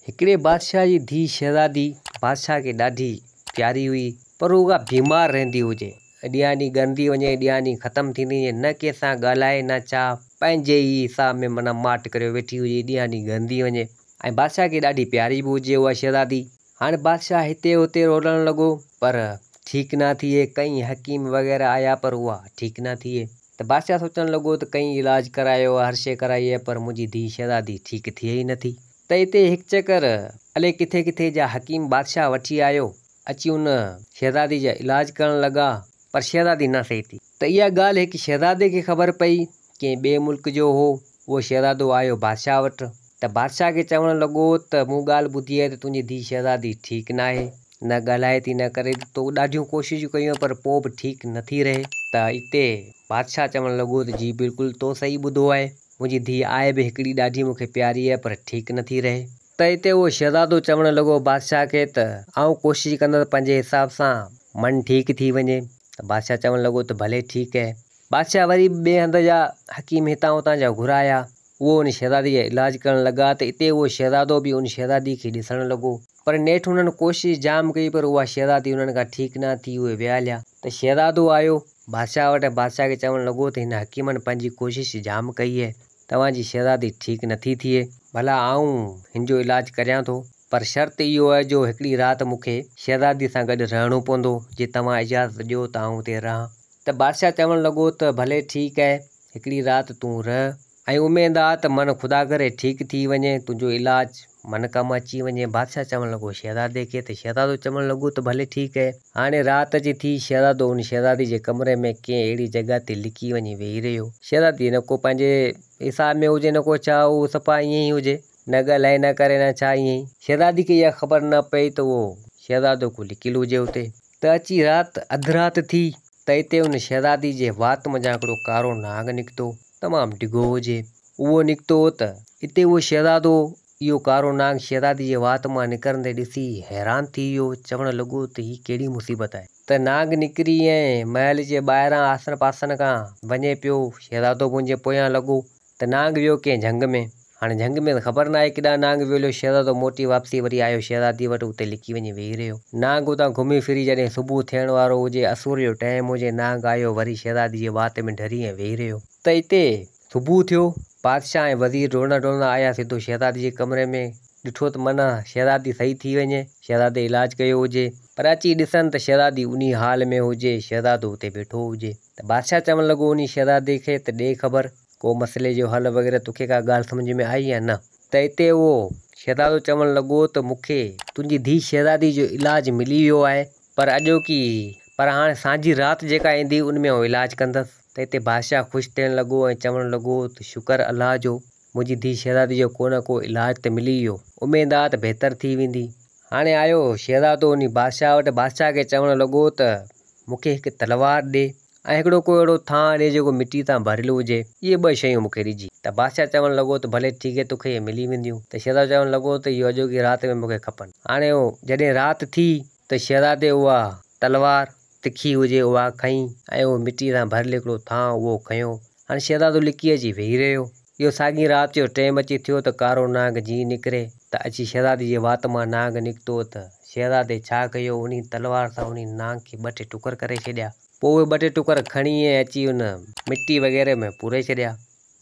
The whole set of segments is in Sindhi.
هڪڙي بادشاهه جي ڌيء شهزادي بادشاهه کي ڏاڍي پياري هئي پر اها بيمار رهندي هجي اڏيان ڏينهن ڳرندي وڃي اڏيان ڏينهن ختم ٿيندي وڃي نه ڪنهن سان ڳالهائي نه چاهه پنهنجي ئي حساب ۾ معنيٰ ماٺ ڪريو ويٺي هجي ڏينهان ڏينهن ڳرندي وڃي ۽ بادشاهه کي ڏاڍي پياري به هجي اها شهزادي هاڻي بادشاهه هتي هتي رولڻ لڳو پر ٺيڪ نه ٿئي ڪئين حڪيم وغيره آيا پر اها ٺيڪ نه ٿئي ته بادشاهه سوچڻ لڳو ته ڪئين علاج ڪرايو هر شيء ڪرائي پر منهنجي ڌيء شهزادي ٺيڪ ٿئي ئي نه ٿي ته اتي هڪ چڪر الي ڪٿي ڪٿي جا حڪيم بادشاهه وٺي آيو، اچي ان شهزادي جا علاج ڪرڻ لڳا، پر شهزادي نه صحيح ٿي. ته اها ڳالهه هڪ شهزادي کي خبر پئي، ڪنهن ٻئي ملڪ جو هو، اهو شهزادو آيو بادشاهه وٽ، ته بادشاهه کي چوڻ لڳو ته مون ڳالهه ٻڌي آهي ته تنهنجي ڌيء شهزادي ٺيڪ ناهي، نه ڳالهائي ٿي نه ڪري ٿي، تو ڏاڍيون ڪوششون ڪيون آهن پر پوء به ٺيڪ نٿي رهي. ته اتي بادشاهه چوڻ لڳو ته جي بلڪل تو صحيح ٻڌو آهي، منهنجي ڌيء آء به هڪڙي ڏاڍي مون کي پياري آهي پر ٺيڪ نه ٿي رهي. ته اتي اهو شهزادو چوڻ لڳو بادشاهه کي ته آئون ڪوشش ڪندس ته پنهنجي حساب سان من ٺيڪ ٿي وڃي ته بادشاهه چوڻ لڳو ته ڀلي ٺيڪ اهي. بادشاهه وري به ٻئي هنڌ جا حڪيم هتان هتان جا گهرايا اهو ان شهزادي جا علاج ڪرڻ لڳا ته اتي اهو شهزادو به ان شهزادي کي ڏسڻ لڳو پر نيٺ هنن ڪوشش جام ڪئي پر اها شهزادي هنن کان ٺيڪ نه ٿي اهي ويا هليا ته شهزادو آيو بادشاهه وٽ ۽ بادشاهه کي چوڻ لڳو ته هن حڪيمن پنهنجي ڪوشش جام ڪئي هي، توهان جي شهزادي ٺيڪ نٿي ٿئي، ڀلا آئون هن جو علاج ڪريان ٿو، پر شرط اهو آهي جو هڪڙي رات مون کي شهزادي سان گڏ رهڻو پوندو، جي توهان اجازت ڏيو ته آئون اتي رهان. ته بادشاهه چوڻ لڳو ته ڀلي ٺيڪ آهي، هڪڙي رات تون رهه. ۽ اميد آ ته من خدا ڪري ٺيڪ ٿي وڃين تنهنجو علاج من ڪم اچي وڃين بادشاهه چوڻ لڳو شهزادي کي ته شهزادو چوڻ لڳو ته ڀلي ٺيڪ اهي هاڻي رات اچي ٿي شهزادو ان شهزادي جي ڪمري ۾ ڪنهن اهڙي جڳهه تي لڪي وڃي ويهي رهيو شهزادي نه ڪو پنهنجي حساب ۾ هجي نه ڪو ڇا هو صفا ائين ئي هجي نه ڳالهائي نه ڪري نه ڇا ائين ئي شهزادي کي اها خبر نه پئي ته اهو شهزادو ڪو لڪيل هجي اتي ته اچي رات اڌ رات ٿي ته اتي ان شهزادي جي وات منجهان هڪڙو ڪارو ناگ نڪتو، تمام ڊگهو هجي. اهو نڪتو هو ته اتي اهو شهزادو اهو ڪارو ناگ شهزادي جي وات مان نڪرندي ڏسي حيران ٿي ويو، چوڻ لڳو ته هي ڪهڙي مصيبت آهي. ته ناگ نڪري ۽ محل جي ٻاهران آسن پاسن کان وڃي پيو، شهزادو منهنجي پويان لڳو ته نانگ ويو ڪنهن جهنگ ۾. هاڻي جهنگ ۾ ته خبر ناهي ڪيڏانهن نانگ ويو هليو. شهزادو موٽي واپسي وري آيو شهزاديء وٽ اتي لڪي وڃي ويهي رهيو. نانگ اتان گهمي ڦري جڏهن صبح ٿيڻ وارو هجي اسور جو ٽيم هجي نانگ آيو وري شهزادي جي وات ۾ ڍري ائين ويهي رهيو. ته اتي صبح ٿيو. بادشاهه ۽ وزير ڊوڙندا ڊوڙندا آيا سڌو شهزادي جي ڪمري ۾ ڏٺو ته منه شهزادي صحيح ٿي وڃي شهزادي علاج ڪيو هجي پر اچي ڏسن ته شهزادي انهي حال ۾ هجي شهزادو اتي ويٺو هجي. ته بادشاهه چوڻ لڳو انهي شهزادي کي ته ڏي خبر ڪو مسئلي جو حل وغيره توکي ڪا ڳالهه سمجهه ۾ آئي يا نه؟ ته اتي اهو شهزادو چوڻ لڳو ته مون کي تنهنجي ڌيء شهزادي جو علاج ملي ويو آهي پر اڄوڪي پر هاڻي سانجهي رات جيڪا ايندي ان ۾ آئون علاج ڪندس ته اتي بادشاهه خوش ٿيڻ لڳو ۽ چوڻ لڳو ته شڪر الله جو منهنجي ڌيء شهزادي جو ڪو نه ڪو علاج ته ملي ويو. اميد آ ته بهتر ٿي ويندي. هاڻي آيو شهزادو انهي بادشاهه وٽ بادشاهه کي چوڻ لڳو ته مون کي هڪ تلوار ڏي ۽ هڪڙو ڪو اهڙو ٿانء ڏي جيڪو مٽيء تان ڀريل هجي. اهي ٻه شيون مون کي ڏجي. ته بادشاهه چوڻ لڳو ته ڀلي ٺيڪ هي توکي اهي ملي وينديون. ته شهزادو چوڻ لڳو ته اهو اڄوڪي رات ۾ مون کي کپن. هاڻي جڏهن رات ٿي ته شهزادي اها تلوار تکي هجي اها کنئي ۽ اهو مٽيء سان ڀريل هڪڙو ٿانء اهو کنيو. هاڻ شهزادو لڪي اچي ويهي رهيو. اهو ساڳئين رات جو ٽيم اچي ٿيو ته ڪارو نانگ جيئن نڪري ته اچي شهزادي جي وات مان نانگ نڪتو ته شهزادي ڇا ڪيو انهي تلوار سان انهي نانگ کي ٻه ٽي ٽڪر ڪري ڇڏيا. پوء اهي ٻه ٽي ٽڪر کڻي ۽ اچي ان مٽي وغيره ۾ پوري ڇڏيا.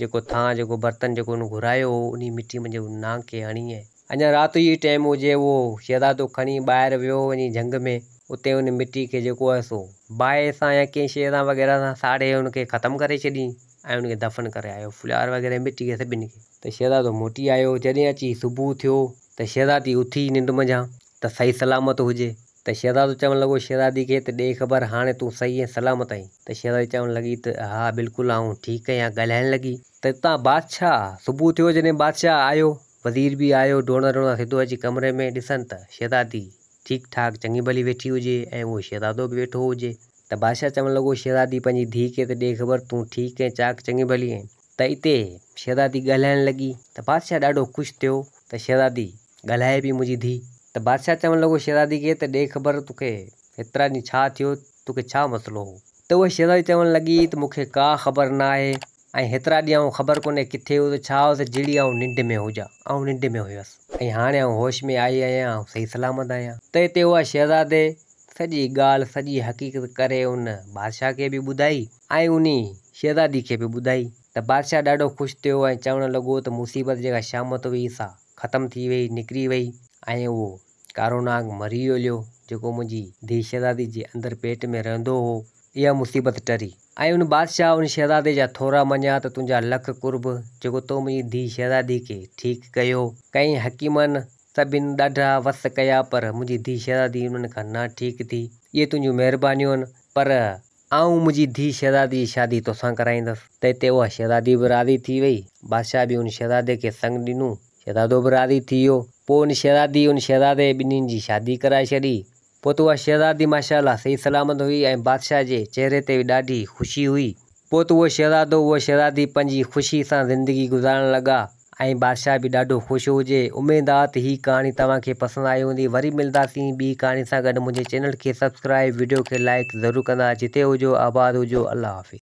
جيڪو ٿانء جيڪو برتن جيڪو هن گهرايو هو، انهيء مٺي منجهه هن نانگ کي هڻي ۽. اڃا رات جو ئي ٽيم هجي، اهو شهزادو کڻي ٻاهر ويو وڃي جهنگ ۾. اتي هن مٺي کي جيڪو آهي سو باهه سان يا ڪنهن شيء سان وغيره سان ساڙي هن کي ختم ڪري ڇڏيئي ۽ هن کي دفن ڪري آيو ڦلهار وغيره مٺي کي سڀني کي. ته شهزادو موٽي آيو، جڏهن اچي صبح ٿيو ته شهزادي اٿي ننڊ منجهان ته صحيح سلامت هجي. ته شهزادو چوڻ لڳو، شهزادي کي ته ڏي خبر هاڻي تون صحيح ۽ سلامت آهين؟ ته شهزادي چوڻ لڳي ته ها بلڪل آئون ٺيڪ آهيان ڳالهائڻ لڳي. ته اتان بادشاهه صبح ٿيو جڏهن بادشاهه آيو وزير به آيو ڊوڙندڙ ڊوڙندڙ سڌو اچي ڪمري ۾ ڏسن ته شهزادي ٺيڪ ٺاڪ چڱي ڀلي ويٺي هجي ۽ اهو شهزادو به ويٺو هجي. ته بادشاهه چوڻ لڳو، شهزادي پنهنجي ڌيء کي ته ڏي خبر تون ٺيڪ ۽ چاڪ چڱي ڀلي آهين؟ ته اتي شهزادي ڳالهائڻ لڳي ته بادشاهه ڏاڍو خوش ٿيو ته شهزادي ڳالهائي پئي منهنجي ڌي ته بادشاهه چوڻ لڳو شهزادي کي ته ڏي خبر تو کي هيترا ڏينهن ڇا ٿيو تو کي ڇا مسئلو هو ته اها شهزادي چوڻ لڳي ته مون کي ڪا خبر نه آهي ۽ هيترا ڏينهن آئون خبر ڪونهي ڪٿي هيس ته ڇا هيس جهڙي آئون ننڊ ۾ هجان آئون ننڊ ۾ هيس ۽ هاڻي آئون هوش ۾ آئي آهيان آئون صحيح سلامت آهيان ته اتي اها شهزادي سڄي ڳالهه سڄي حقيقت ڪري ان بادشاهه کي به ٻڌائي ۽ انهيء شهزادي کي به ٻڌائي ته بادشاهه ڏاڍو خوش ٿيو ۽ چوڻ لڳو ته مصيبت جيڪا شامت هئي سا ختم ٿي ويئي، نڪري ويئي ۽ اهو ڪارو ناگ مري هليو جيڪو منهنجي ڌيء شهزادي جي اندر پيٽ ۾ رهندو هو. اها مصيبت ٽري ۽ ان بادشاهه ان شهزادي جا ٿورا مڃيا ته تنهنجا لک قرب جيڪو تو منهنجي ڌيء شهزادي کي ٺيڪ ڪيو. ڪئين حڪيمن سڀن ڏاڍا وس ڪيا پر منهنجي ڌيء شهزادي انهن کان نه ٺيڪ ٿي. اهي تنهنجون مهربانيون آهن پر آئون منهنجي ڌيء شهزادي جي شادي توسان ڪرائيندس. تنهن تي اها شهزادي به راضي ٿي ويئي. بادشاهه به ان شهزادي کي سڱ ڏنو. شهزادو به راضي ٿي ويو. پوء ان شهزادي ان شهزادي جي ٻنهين جي شادي ڪرائي ڇڏي. پوء ته اها شهزادي ماشاء الله صحيح سلامت هئي ۽ بادشاهه جي چهري تي به ڏاڍي خوشي هئي. پوء ته اهو شهزادو اها شهزادي پنهنجي خوشي سان زندگي گذارڻ لڳا. ۽ بادشاهه به ڏاڍو خوش هجي. اميد آ ته هي ڪهاڻي توهان کي پسند آئي هوندي. وري ملداسين ٻي ڪهاڻي سان گڏ منهنجي چينل کي سبسڪرائيب وڊيو کي لائيڪ ضرور ڪندا جتي هجو آباد هجو الله حافظ.